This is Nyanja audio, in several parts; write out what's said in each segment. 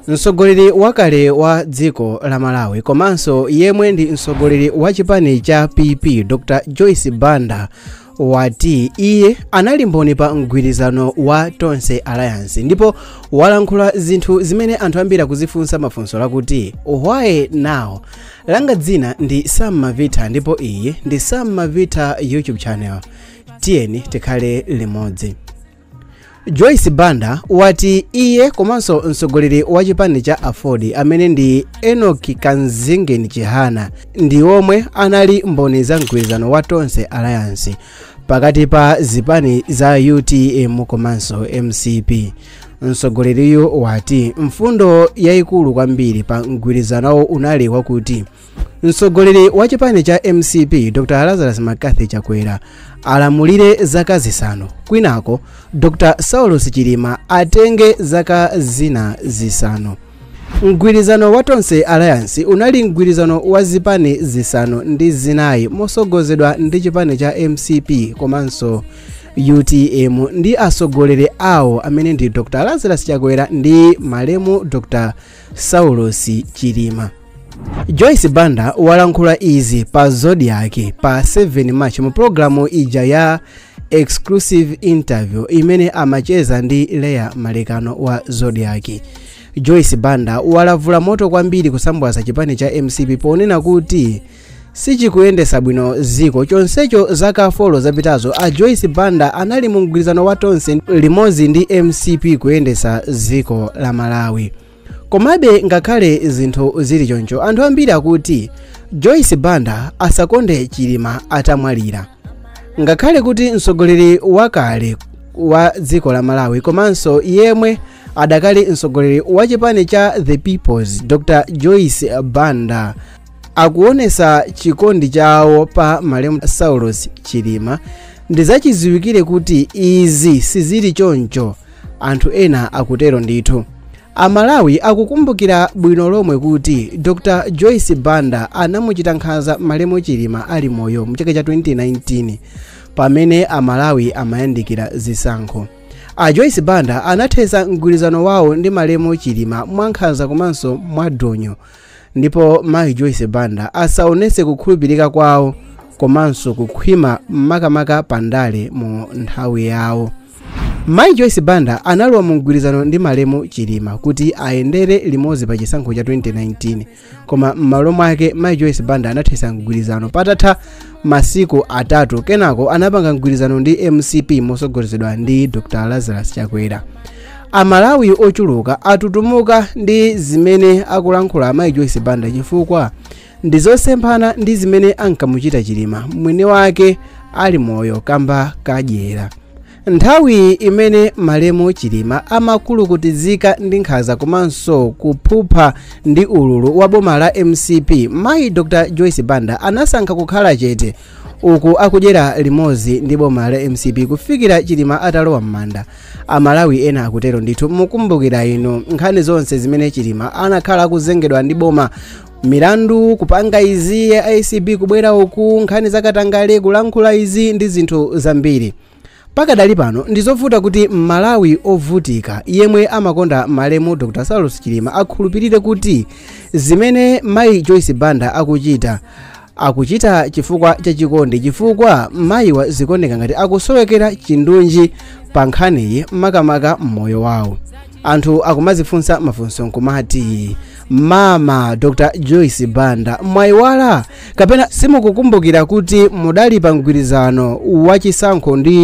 mtsogoleri wakale wa dziko la malawi komanso yemwe ndi mtsogoleri wa chipani cha pp dr joyce banda wati iye anali mboni pa mgwirizano wa tonse alliance ndipo walankhula zinthu zimene anthu ambiri akuzifunsa mafunso lakuti why now langa dzina ndi sam mavita ndipo iyi ndi sam mavita youtube channel tiyeni tikhale limodzi joyce banda wati iye komanso mtsogoleri wa chipani cha aford amene ndi enoch kamzingeni chihana ndi omwe anali mboni za mgwirizano wa tonse alliance pakati pa zipani za utm komanso mcp mtsogoleriyu wati mfundo yayikulu kwambiri pa mgwirizanowo unali wakuti mtsogoleri wa chipani cha mcp dr lazarus mccarthy chakwera alamulire zaka zisanu kwinako dr saulos chilima atenge zaka zina zisanu mgwirizano wa tonse alliance unali mgwirizano wa zipani zisanu ndi zinayi mosogozedwa ndi chipani cha mcp komanso utm ndi atsogoleri awo amene ndi dr lazarus chakwera ndi malemu dr saulos chilima joyce banda walankhula izi pa zodiak pa 7 march mu pologalamu ija ya exclusive interview imene amacheza ndi leah malekano wa zodiak joyce banda walavula moto kwambiri kusambwaza chipani cha mcp ponena kuti sichikuyendesa bwino ziko chonsecho zaka folo zapitazo a joyce banda anali mu mgwirizano wa tonse limodzi ndi mcp kuyendesa ziko la malawi Komabe ngakhale zinthu zili choncho, anthu ambiri akuti Joyce Banda asakonde Chilima atamwalira. Ngakhale kuti mtsogoleri wakale wa dziko la Malawi komanso yemwe adakali mtsogoleri wa chipani cha The Peoples Dr. Joyce Banda akuonesa chikondi chawo pa malemu Saulos Chilima ndizachiziwikire kuti izi sizili choncho anthu ena akutero ndithu amalawi akukumbukira bwino lomwe kuti dr joyce banda anamuchita nkhanza malemu chilima ali moyo mu chaka cha 2019 pamene amalawi amayandikira zisankho a joyce banda anathetsa mgwirizano wawo ndi malemu chilima mwankhanza komanso mwadonyo ndipo mayi joyce banda asaonetse kukhulupirika kwawo komanso kukhwima makamaka pa ndale mu nthawi yawo mayi joyce banda analowa mu mgwirizano ndi malemu chilima kuti ayendere limodzi pa chisankho cha 2019 koma m'malo mwake mayi joyce banda anathetsa mgwirizano patatha masiku atatu kenako anapanga mgwirizano ndi mcp motsogozedwa ndi dr lazarus chakwera Amalawi ochuluka atutumuka ndi zimene akulankhula amayi Joyce Banda chifukwa ndi zosemphana ndi zimene ankamuchita Chilima mwini wake ali moyo kamba kadyera. Nthawi imene malemu Chilima amakulukutizika ndi nkhanza komanso kuphupha ndi ululu wa boma la mcp, mayi Dr Joyce Banda anasankha kukhala chete uku akudyera limodzi ndi boma la mcp kufikira Chilima atalowa m'manda. amalawi ena akutero ndithu mukumbukira inu nkhani zonse zimene chilima anakhala akuzengedwa ndi boma milandu kupanga izi ya acb kubwera uku nkhani zakatangale kulankhula izi ndi zinthu zambiri pakadali pano ndizovuta kuti mmalawi ovutika yemwe amakonda malemu dr saulos chilima akhulupirire kuti zimene mayi joyce banda akuchita akuchita chifukwa cha chikondi chifukwa mayiwa zikuoneka ngati akusowekera chindunji pa nkhaniyi makamaka mmoyo wawo anthu akumazifunsa mafunso nkumati mama dr joyce banda mwayiwala kapena simukukumbukira kuti mudali pa mgwirizano wa chisankho ndi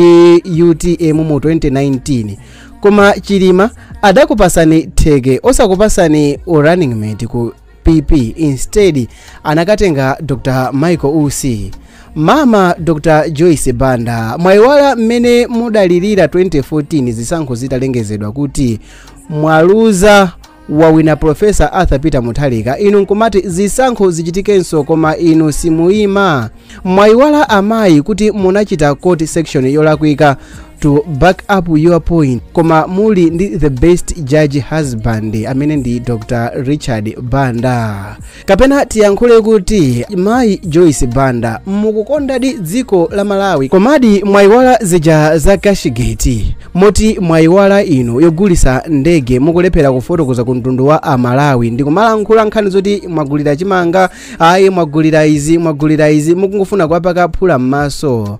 utm mu 2019 koma chilima adakupatsani theke osakupatsani u running mate ku pp instead anakatenga dr michael usi mama dr joyce banda mwayiwala mmene mudalirira 2014 zisankho zitalengezedwa kuti mwaluza wawina profesa arthur peter mutharika inu nkumati zisankho zichitikenso koma inu simuyima Mwayiwala amayi kuti munachita quote section yolakwika to back up your point koma muli ndi the best judge husband amene ndi dr richard banda kapena tiyankhule kuti mayi joyce banda mukukondadi dziko la malawi komadi mwayiwala zija za cashgate moti mwayiwala inu yogulisa ndege mukulephera kufotokoza ku mtundu wa amalawi ndikumalankhula nkhani zoti mwagulira chimanga ayi mwagulira izi mwagulira izi mukungofuna kuwapaka phula m'maso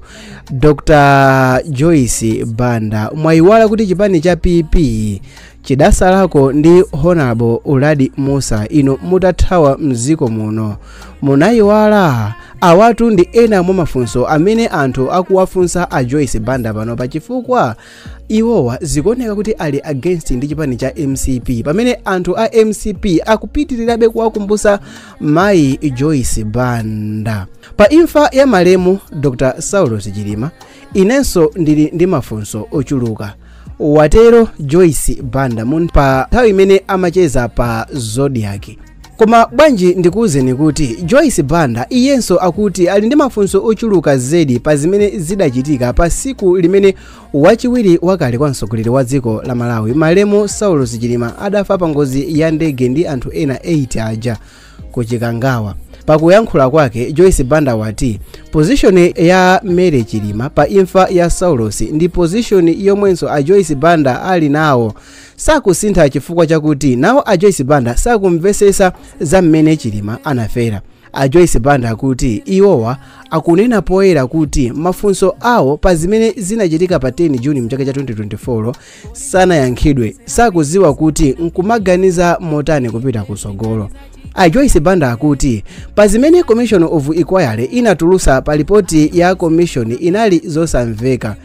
dr joyce banda mwayiwala kuti chipani cha pp chidatsala ku ndi honorable uladi mussa inu mutathawa mdziko muno munayiwala awatu ndi ena mwa mafunso amene anthu akuwafunsa a joyce banda pano pa chifukwa iwowa zikuoneka kuti ali against ndi chipani cha mcp pamene anthu a mcp akupitirirabe kuwakumbusa mayi joyce banda pa imfa ya malemu dr saulos chilima inenso ndili ndi mafunso ochuluka watero joyce banda pa nthawi imene amacheza pa zodiak Koma bwanji ndikuuzeni kuti Joyce Banda iyenso akuti ali ndi mafunso ochuluka zedi pa zimene zidachitika pa siku limene wachiwiri wakale kwa mtsogoleri wa dziko la Malawi malemu Saulos Chilima adafa pa ngozi ya ndege ndi anthu ena 8 aja ku Chikangawa. Pakuyankhula kwake Joyce Banda wati pozishoni ya Mary Chilima pa imfa ya Saulos ndi pozishoni yomwenso a Joyce Banda ali nawo sakusintha chifukwa chakuti nawo a joyce banda sakumvesesa za mmene chilima anafera a joyce banda akuti iwowa akunena poyera kuti mafunso awo pa zimene zinachitika pa 10 juni mchaka cha 2024 sanayankhidwe sakuziwa kuti nkumaganiza motani kupita kusogolo a joyce banda akuti pa zimene commission of inquiry inatulusa pa lipoti ya commission inali zosamveka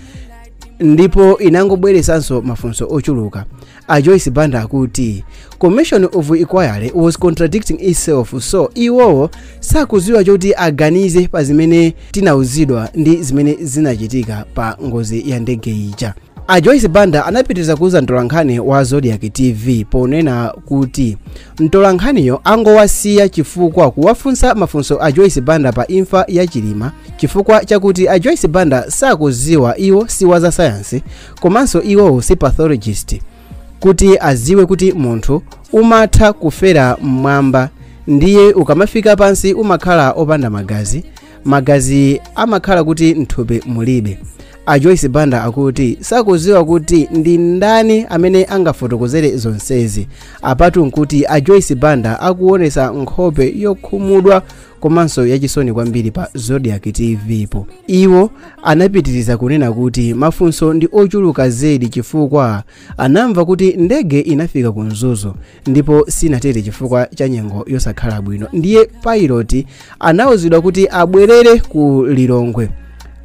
ndipo inangobweresanso mafunso ochuluka a joyce banda akuti commission of inquiry was contradicting itself so iwowo sakuziwa choti aganize pa zimene tinauzidwa ndi zimene zinachitika pa ngozi ya ndege ija a joyce banda anapitiriza kuuza mtolankhani wa zodiak tv ponena kuti mtolankhaniyo angowasiya chifukwa kuwafunsa mafunso a joyce banda pa imfa ya chilima chifukwa chakuti a joyce banda sakuziwa iwo si wa za sayansi komanso iwowo si pathologist kuti aziwe kuti munthu umatha kufera mmwamba ndiye ukamafika pansi umakhala opanda magazi magazi amakhala kuti mthupi mulibe a joyce banda akuti sakuziwa kuti ndi ndani amene angafotokozere zonsezi apatu nkuti a joyce banda akuonesa nkhope yokhumudwa komanso yachisoni kwambiri pa zodiak tv po iwo anapitiriza kunena kuti mafunso ndi ochuluka zedi chifukwa anamva kuti ndege inafika ku mzuzu ndipo sinatere chifukwa cha nyengo yosakhala bwino ndiye pilot anauzidwa kuti abwerere ku lilongwe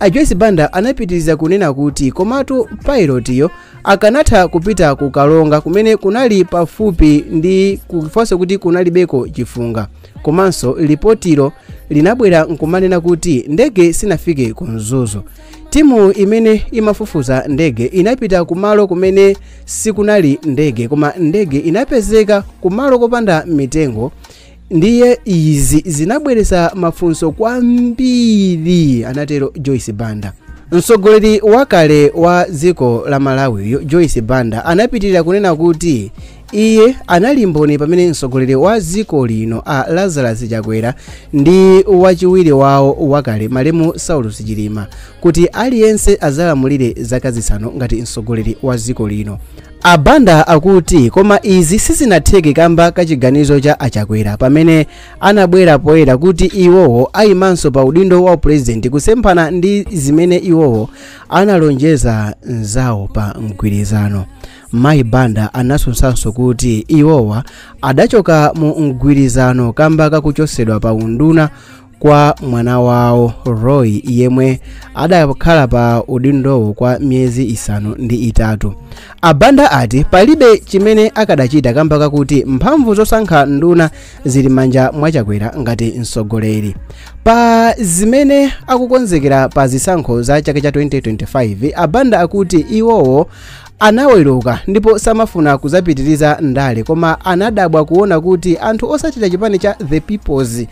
a joyce banda anapitiriza kunena kuti komatu pilotiyo akanatha kupita ku karonga kumene kunali pafupi ndikumvanso kuti kunalibeko chifunga komanso lipotilo linabwera nkumanena kuti ndege sinafike ku mzuzu timu imene imafufuza ndege inapita kumalo kumene sikunali ndege koma ndege inapezeka kumalo kopanda mitengo ndiye izi zinabweretsa mafunso kwambiri anatero joyce banda mtsogoleri wakale wa dziko la malawiyo joyce banda anapitirira kunena kuti iye anali mboni pamene mtsogoleri wa dziko lino a lazarus chakwera ndi wachiwiri wawo wakale malemu saulos chilima kuti aliyense adzalamulire zaka zisanu ngati mtsogoleri wa dziko lino abanda akuti koma izi sizinatheke kamba ka chiganizo cha achakwera pamene anabwera poyera kuti iwowo ayimanso pa udindo wa upulezidenti kusemphana ndi zimene iwowo analonjeza mzawo pa mgwirizano mayi banda anatsutsanso kuti iwowa adachoka mu mgwirizano kamba kakuchotsedwa pa unduna kwa mwana wawo roy yemwe adakhala pa udindowo kwa miyezi isanu ndi itatu abanda ati palibe chimene akadachita kamba kakuti mphamvu zosankha nduna zili manja mwachakwera ngati mtsogoleri pa zimene akukonzekera pa zisankho za chaka cha 2025 abanda akuti iwowo anaweruka ndipo samafuna kudzapitiriza ndale koma anadabwa kuona kuti anthu otsatira chipani cha the peoples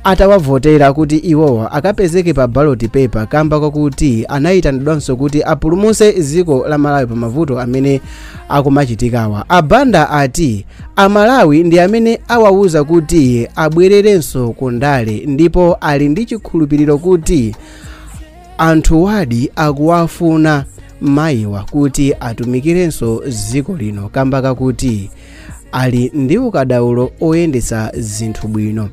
atawavotera kuti iwowa akapezeke pa ballot paper kamba kwakuti anayitanidwanso kuti apulumutse dziko la malawi pa mavuto amene akumachitikawa abanda ati amalawi ndi amene awawuza kuti abwererenso ku ndale ndipo ali ndi chikhulupiriro kuti anthuwadi akuwafuna mayiwa kuti atumikirenso dziko lino kamba kakuti ali ndi ukadaulo oyendetsa zinthu bwino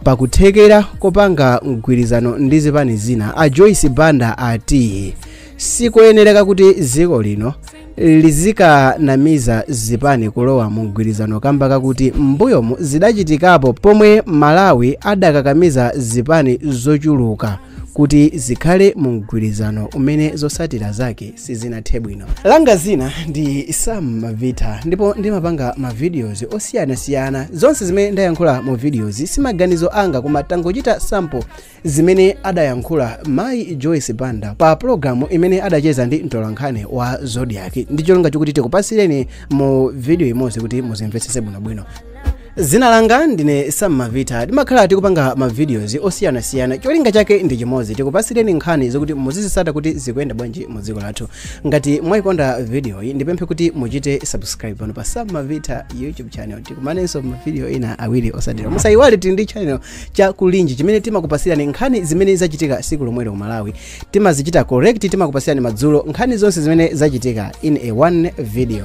pakuthekera kopanga mgwirizano ndi zipani zina a joyce banda ati sikoyenereka kuti dziko lino lizikakamiza zipani kulowa mu mgwirizano kamba kakuti m'mbuyomu zidachitikapo pomwe malawi adakakamiza zipani zochuluka kuti zikhale mu mgwirizano umene zotsatira zake sizinathe bwino langa dzina ndi sam mavita ndipo ndimapanga mavideos osiyanasiyana zonse zimene ndayankhula mu videoyi simaganizo anga koma tangochita sample zimene adayankhula mayi joyce banda pa pologalamu imene adacheza ndi mtolankhani wa zodiak ndi cholinga chokuti tikupatsireni mu video imodzi kuti muzimvetsetse bwinobwino Dzina langa ndine Sam Mavita. Timakhala tikupanga ma videos osiyanasiyana. Cholinga chake ndi chimodzi, tikupatsireni nkhani zokuti muzizitsata kuti zikuyenda bwanji mu dziko lathu. Ngati mwaikonda video iyi, ndipemphe kuti muchite subscribe pano pa Sam Mavita YouTube channel. Tikumanenso ma video ina awiri otsatira. Musayiwale tili ndi channel cha Kulinji chimene timakupatsirani nkhani zimene zachitika tsiku lomwelo ku Malawi. Timazichita collect, timakupatsirani madzulo nkhani zonse zimene zachitika in a one video.